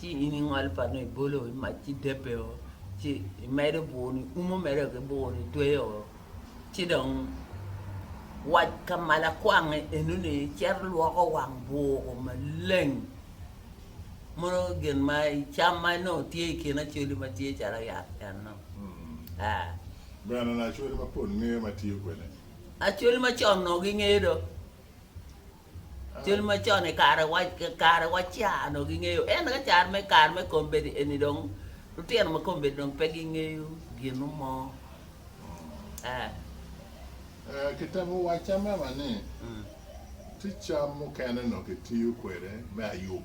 ci in ingolo pano ibolo i mac ci debbe o ci imedo bur ni umo mere ki bur ni tweyo o ci dong wac ka malo akwange eno ni cito lwoko wang bur o maleng mono gin ma cam ma nongo tye i kin acholi ma tye calo yat en no aa Bene onongo acholi mapol ngeyo ma tiyo kwede ni. acholi macon nongo gingeyo do. Cal macon i kare wa ca onongo gingeyo ento ka kare me kare me kombeddi eni dong lutino ma kombeddi dong pe gingeyo gin mo eh. Kitemo wacca mama ni tye cam mukene onongo kitiyo kwede me ayub.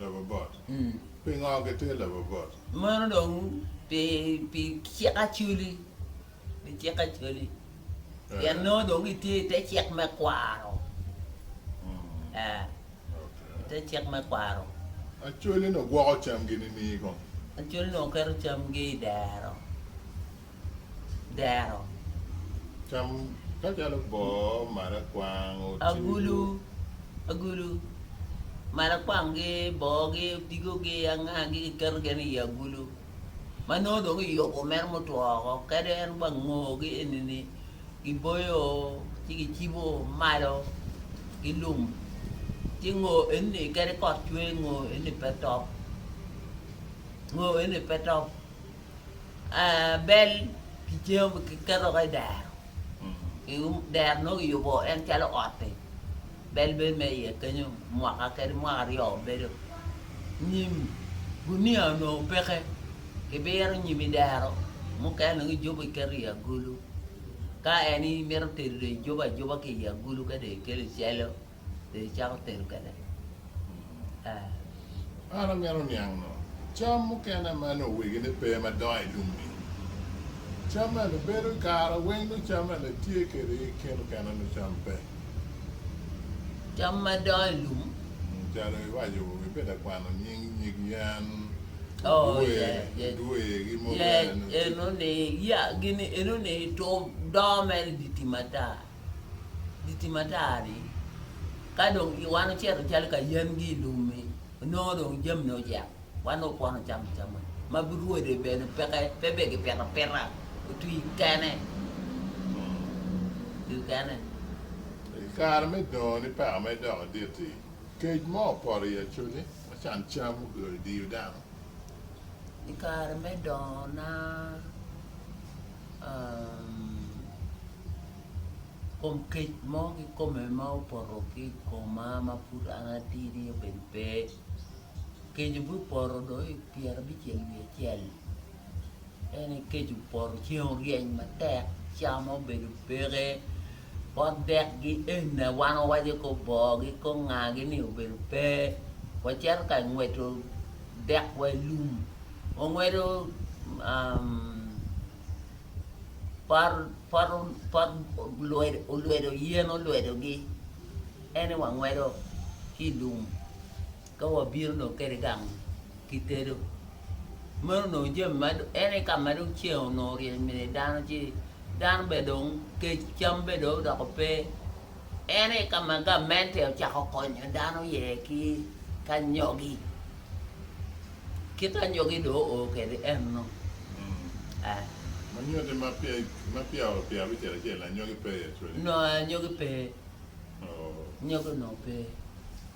labobot? Pingo gitye labobot? Meno dong pi pi cik Acholi, pi cik Acholi pien nongo dong gitye i te cik me kwaro, ee i te cik me kwaro. Acholi-ni gwoko camgi nining kong? Acholi-ni oketo camgi i dero. dero, agulu, agulu, marakwang-gi, boogi, odigogi, angagi kiketo gin i agulu ma nongo dong kiyubo mere mutwo woko kadi en wa ngogi eni-ni kiboyo ci kicibo malo ki lum ci ngo eni-ni kadi kot cwer ngo eni pe top, ngo eni pe top. bel ki jami kiketo ki dero dero nongo kiyubo en calo ot-ti bel bedo ma iye kenyo mwaka kadi mwaka aryo bedo nyim gunia onongo peke kibiro nyim i dero mukene dong ijubo iketo i agulu ka en imito tedo dong ijubo ajuba ki i agulu ka dong ikelo icelo. be icako tedo kwede. An amito niang nongo cam mukene ma nongo wegine pe ma dongo i lum-mi. Cam mene bedo kare weng nongo cam mene tye kwede ki kit mukene nongo cam pe. Cam ma dongo i lum. Calo iwaco ibedo ka kwano nying nyig yen, odwe, dwe ki mukene. Yec enoni, yeah gini enoni dongo mere idye tim ata. Giti matar-ri, ka dong wan ocito calo ka yengi i lum-mi, onongo dong jamini ocek, wan dong opono cam acama. Ma birwode bene peke, pe be gipito apita, otwi kene, otwi kene. I kare me dongoni peko mere dok adit-ti, kec mo opoto i acoli ma can cam obedo diyo dano. I kare me dongona. kom kec mo kikome ma opoto ki i koma ma pud an atidi obedo pe keco be opoto do i pyera bicel wiye acel en aye keco opoto ceng oryeny matek cam obedo peke pot dek gi ene wan wawaco ki oboo gi konga gi ni obedo pe wacito ka ngweco dek wa ilum. Ongwedo pot olwedo yen olwedogi ene wangwedo ki i lum ka wabino dong kede gang kitedo meno dong jami ma ene ka ma dong ceng onongo oryeny mine dano ci dano bene dong kec cam bene dong odoko pe En aye ka ma gamente ocako konyo dano iye ki anyogi. Kit anyogi dong oo kwede enno. Eh. Ma nyutti ma peya ma peya oo pi abicel acel anyogi pe i Australia? No anyogi pe. Oo. Anyogi onongo pe.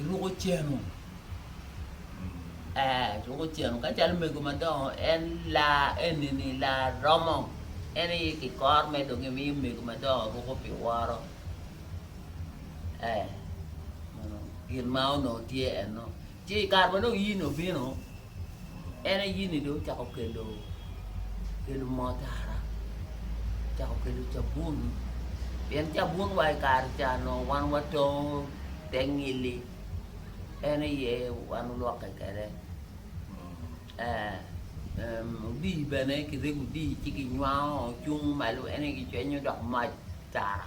Iruko cenu? Ee, iruko cenu. Ka calo mego madongo, en laa eni-ni, laa romo. En aye ki kor me dong gimiyo mego madongo ruko pi woro. Ee, meno gin ma onongo tye enno. Ci i kare ma dong in obino, En aye ni dong ocako kelo kelo moo tara ocako kelo cabun pien cabun wa ikare ca nongo wan watongo te ngili en aye wan olwokke kede odii bene kirego odii ci kinywango cung malo en aye kicwenyo dok mac tara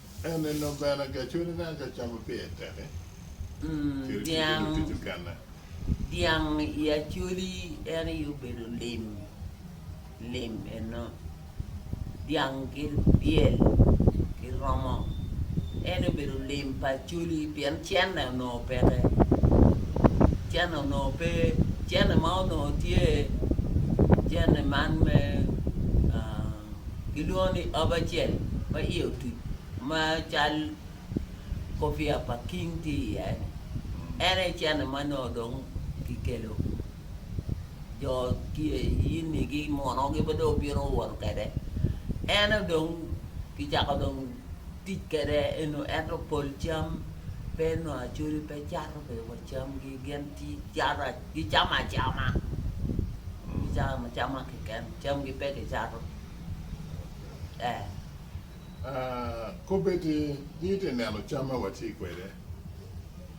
En en dong bene gacwele na ka camo pi en teke. Cwele ki dong Dyang otico kene. dyang i acoli en aye obedo lim lim eno dyang ki ryel ki romo en obedo lim pa acoli pien cene onongo peke cene onongo pe cene ma onongo tye cene man me aa gilwongo ni ob acel ma iye otuc ma cal kopiya pa king tye iye-ni, en aye cene ma nongo dong kikelo. Jo yenigi, monogi ma dong obino won kwede, en aye dong kicako dong tic kwede eno. Ento pol cam pe nongo acoli pe cato bene wa camgi, gin gicato. gicamo acama, gicamo acama keken, camgi pe gicato. Eh. Ah, kobbe ni in ite neno cam ma watye kwede.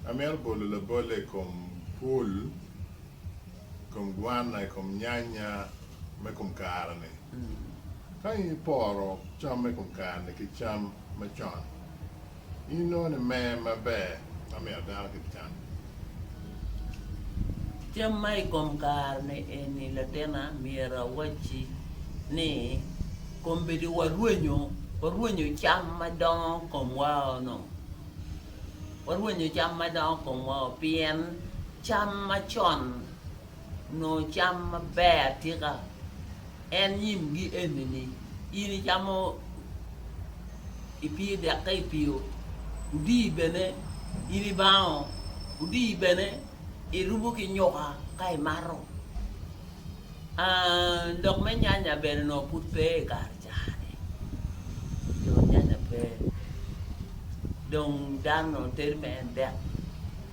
Amito bolo labolle i kom pul, i kom gwana, i kom nyanya me kom kare-ni. Ka in iporo cam me kom kare-ni ki cam macon, in inongo ni mer maber ma mito dano ki can. Cam ma i kom kare-ni eni latinna, myero awacci ni kombeddi warwenyo, warwenyo cam ma dongo komwao nongo, warwenyo cam ma dongo komwao pien cam macon nongo cam maber atika en nyimgi enini in icamo ipye dek ka ipiyo odiyi bene in ibango odiyi bene irubo ki nyuka ka imato lok me nyanya bene nongo pud pe i kare cani dong nyanya pe dong dano nongo teri me en dek.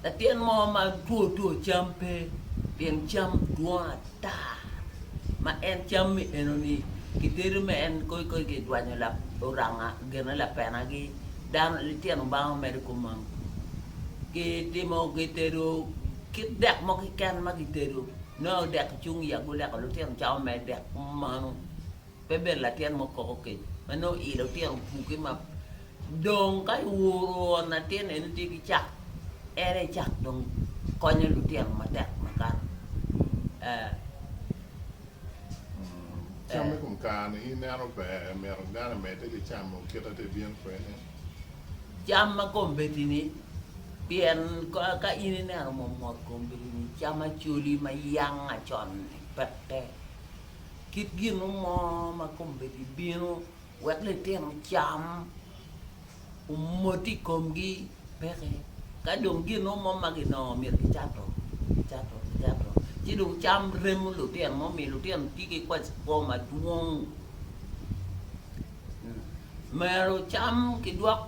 Latin mo ma two two cam pe pien cam dwong ata ma en cam mi eno ni ki tedo me en koi koi ki dwanyo lap oranga gene lapena gi dano litino bango medo kumam ki timo ki tedo ki dek mo ki ken ma ki tedo no dek cung ya guleko litino camo me dek manu. Pe bed latin mo koko kec ma nongo ile otito buke ma dong ka iwuro on latin eno tye ki cak en aye cak dong konyo lutino matek makato eh. Cam me kom kare ni ineno ber myero dano emede ki camo kit ma tye bino kwede. Cam ma kombeddi ni pien ka in ineno mo mot kombeddi ni cam acholi ma yanga con ni peke. kit ginu mo ma kombeddi bino wek litino cam omoti i komgi peke ka dong ginu mo ma ginongo myero gicato gicato gicato ci dong cam remo lutino ma omiyo lutino tye ki kwacikwo madwong. Myero cam ki dwok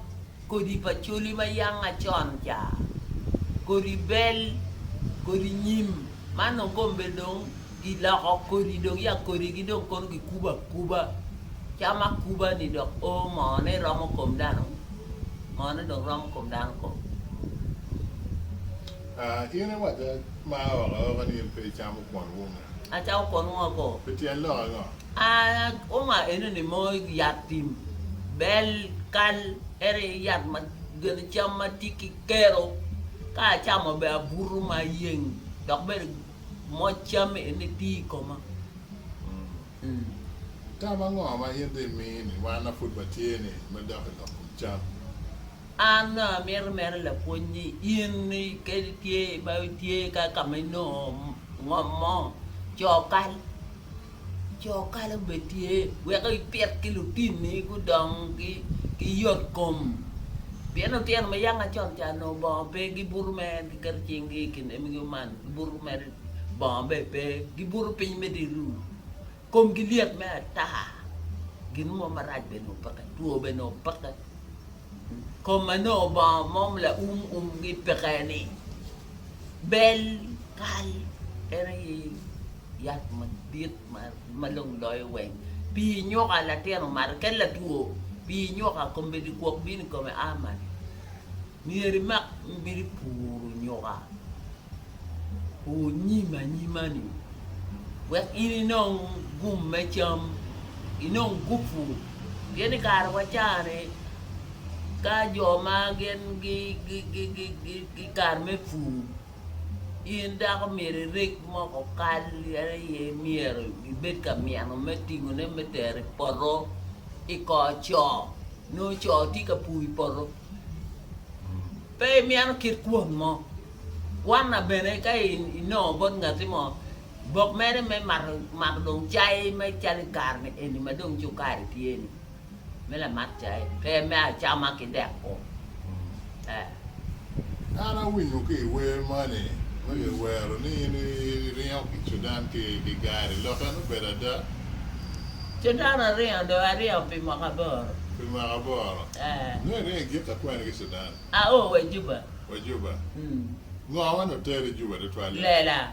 kodi pa coli ma yanga con ca, kodi bel, kodi nyim, man dong kombe dong ki loko kodi dong ya kodi gi dong kono ki kubo akuba, cam akuba ni dok o moo ne romo kom dano, moo ne dong romo kom dano kong. Ah in i waco ma oko oko ni in pe i camo kwon wunga. Acamo kwon wunga kong. Pi tyen lok ango? Aoma enoni mo yat tim bel kal en aye yat ma gin cam ma tye ki kero ka acamo bene abuto ma ayeng dok bene moc cam eni tye i koma. Tam ango ma in dong imini wan ma pud watye-ni me dok i lok kom cam? An dong amito mere lapwony ni in kadi itye ma itye ka ma inongo ngom mo, co kal. Jo kalo bene tye weko ipit ki lutinni gudong ki yot kom pien lutino ma yanga col ca nongo bongo pe gibuto mere giketo cingi i kin emgi man gibuto mere bongo bene pe gibuto piny me dye lum komgi lyet me ata gin mo marac bene nongo peke two bene nongo peke kom ma nongo bongo mo ma laum umgi peke-ni bel kal en aye Yat madit ma long loyo weng. Pii nyuka latin omato kadi latwo pii nyuka kombeddi kwok bino i kome a malo. Myero imak myero ipuru nyuka pur nyim anyima ni wek in inong gum me cam inong gupu pien i kare wa ca ni ka jo ma gin gi kare me pur. In dako myero ireg moko kal en aye myero ibed ka myeno me tingone me tero i poto i kor co nongo co tye ka pur i poto pe imyeno kit kwon mo kwanna bene ka inongo bot ngati mo bok mere me mato dong cai me calo i kare ni eni ma dong cukari tye ni me lamak cayi pe me acama ki deko eh. An awinyo ki i wer moni ma ki wero ni in i ringo ki Sudan ki gari lok en obedo ada? Sudan aringo dong aringo pi mwaka aboro. Pi mwaka aboro? Eh. Nongo iringo i gin ka kwene ki Sudan? A o wa Juba. Wa Juba. Mm. Ngo ma nongo teri Juba tutwalle? Lela.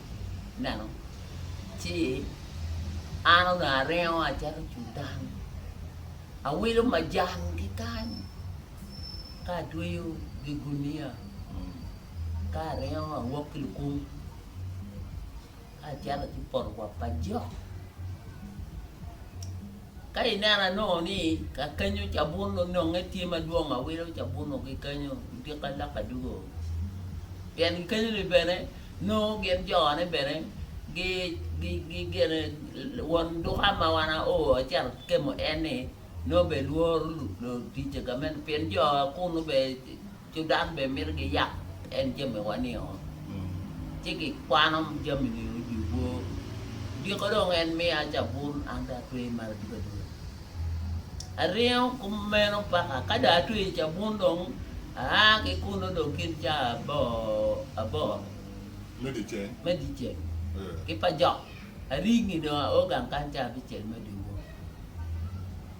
ineno, ci an onongo aringo acito i cudan, awilo majan ki kany ka atweyo gi gunia ka aringo awok ki lukum ka acito ki poto kwap pa jok. Ka ineno anongo ni ka kenyo cabun ononge tye madwong ma wilo cabuno ki kenyo odik ka lok adugo. Pien gikenyo ni bene nongo gin jone bene gi gi gi gene won duka ma wan ao acel kemo en ni nongo be lworo luticce gamente pien jo kunu be Cudan bene mito giyab en jamiwa nio, ci gikwano jami-ni odyo bor. Dyeko dong en miya cabun an dong atweyo malo ducu aduca. Aringo kumeno paka ka dong atweyo cabun dong aa ki kunnu dong kin ca aboro me dyeceng ki pajok aringi dong aogang kany ca abicel me dyewor.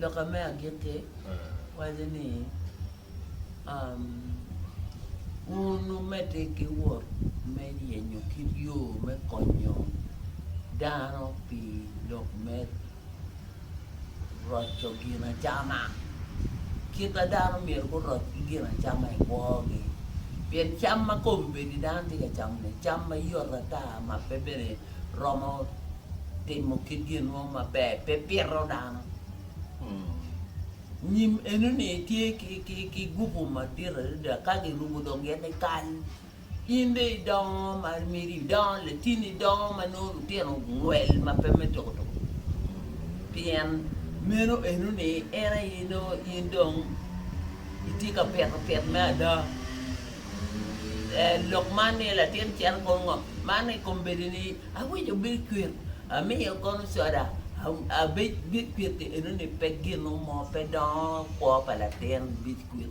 Loka me agikki waco ni, Wun wumedde ki wot me yenyo kit yo me konyo dano pi lok me roco ginacama. Kit ma dano myero guroc ki ginacama i kwogi, pien cam ma kombeddi dano tye ka camo-ni cam ma yot ata ma pe bene romo timo kit gin mo maber, pe pito dano. Nyim eno-ni tye ki gupu madit adada ka girubo dong gin ni kal In dong idongo ma meri idongo latin idongo ma nongo lutino ogwel ma pe me tuko tuko pien meno eno ni en aye nongo in dong itye ka pito pit me ada. Eh, lok man ni latin cito kono ngo man i kom bedi ni awico bed kwir amiyo kono coda a- abed bed kwir eno ni pe gino mo pe dongo kwo pa latin bed kwir.